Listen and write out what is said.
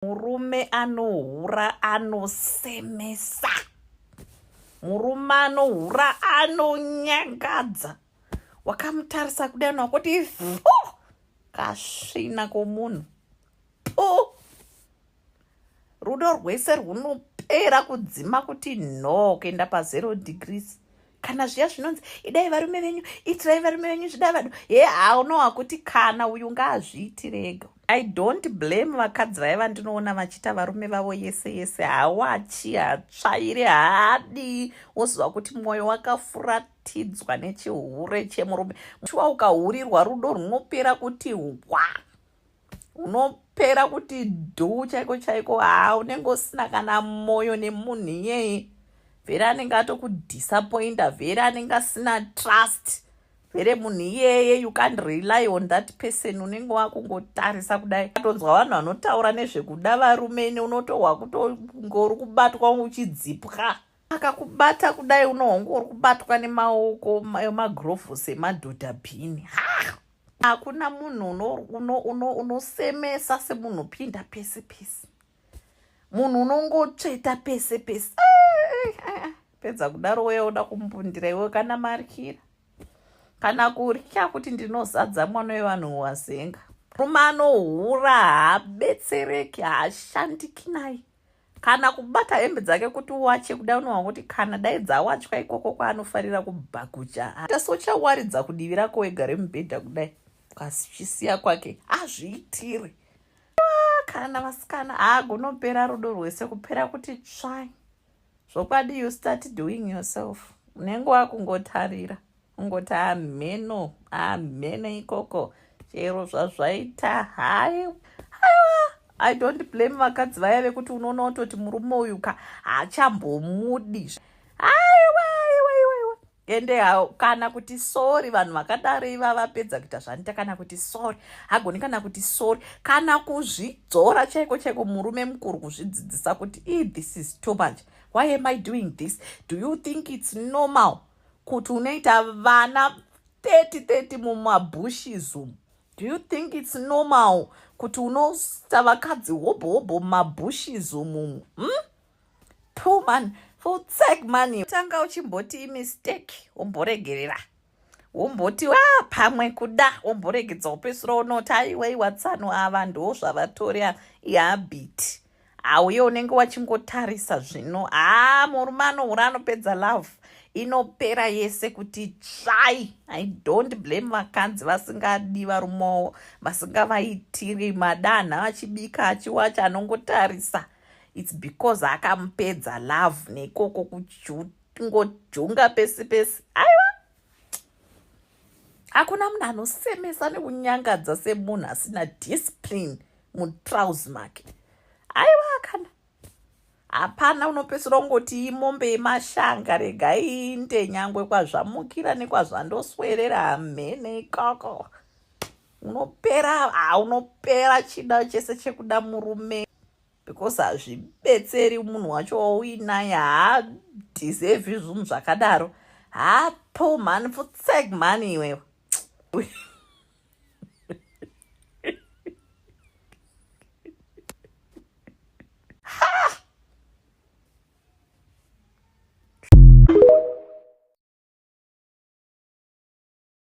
murume anohura anosemesa murume anohura anonyangadza wakamutarisa kudai nakuti fu kasvina komunhu pu rudo rwese rwunopera kudzima kuti no kuenda pazero degrees kana zviya zvinonzi idai varume venyu itirai varume venyu zvida vadu he haunowa kuti kana uyu ngaazviitirega i don't blame vakadzi vaye vandinoona vachiita varume vavo yese yese hawachi hatsvaire haadi woziva kuti mwoyo wakafuratidzwa nechihure chemurume chiwa ukahurirwa rudo rwunopera kuti hwa unopera kuti dhuu chaiko chaiko haa unenge usina kana moyo nemunhu iyeye vhere anenge atokudisappointa vhere anenge asina trust vhere munhu iyeye you can't rely on that person unenge wakungotarisa kudai atonzwa vanhu vanotaura nezvekuda varume ne unotohwa kutongori kubatwa uchidzipwa akakubata kudai unohonga uri kubatwa nemaoko emagirovhosi emadhodha bhini ha hakuna munhu unosemesa uno, uno, uno semunhu pinda pese pese munhu unongotsveta pese pese pedza kudaro weya oda kumbundira iwe kana marikira kana kurya kuti ndinozadza mwana wevanhu wazenga rume anohura haabetsereki haashandiki naye kana kubata hembe dzake kuti uwache kuda unowa kuti kana dai dzawachwa ikoko kwaanofarira kubhakucha hata sochawaridza kudivi rako wega remubhedha kudai kwachisiya kwake azviitire ah, kana vasikana haagonopera rudo rwese kupera kuti tsvai zvokwadi you start doing yourself unenge wakungotarira ungoti hamheno hamheno ikoko chero zvazvaita hai aiwa i don't blame vakadzi vaya vekuti unoona kutoti murume uyu ka haachambomudi aiwa aiwa iwa iwa ende kana kuti sori vanhu vakadaro iva vapedza kuita zvanoita kana kuti sori hagoni kana kuti sori kana kuzvidzora chaiko chaiko murume mukuru kuzvidzidzisa kuti e this is too much why am i doing this do you think it's normal kuti unoita vana 30 30 mumabushes umu do you think it's normal kuti unoita vakadzi hobho hobho mumabushes umumu hmm? two man for tsak money tanga uchimboti imistake womboregerera womboti wa ah, pamwe kuda womboregedza upesura unoti aiwaiwa tsano ava ndo zvavatori ihabiti hauye unenge wachingotarisa zvino haa murume anohura anopedza love inopera yese kuti tsvai i don't blame vakadzi vasingadi varumowo vasingavaitiri madanha vachibika achiwacha anongotarisa its because akamupedza love nekoko kungojunga pesi pesi aiwa hakuna munhu anosemesa nekunyangadza semunhu asina discipline mutrouse make aiwa kana hapana unopesura ungoti imombe yemashanga rega inde nyangwe kwazvamukira nekwazvandoswerera hamhene ikoko unopera unopera chida chese chekuda murume because hazvibetseri munhu wacho wauinaye haadhisevi zvinhu zvakadaro hapo mhani futsek mhani iwewe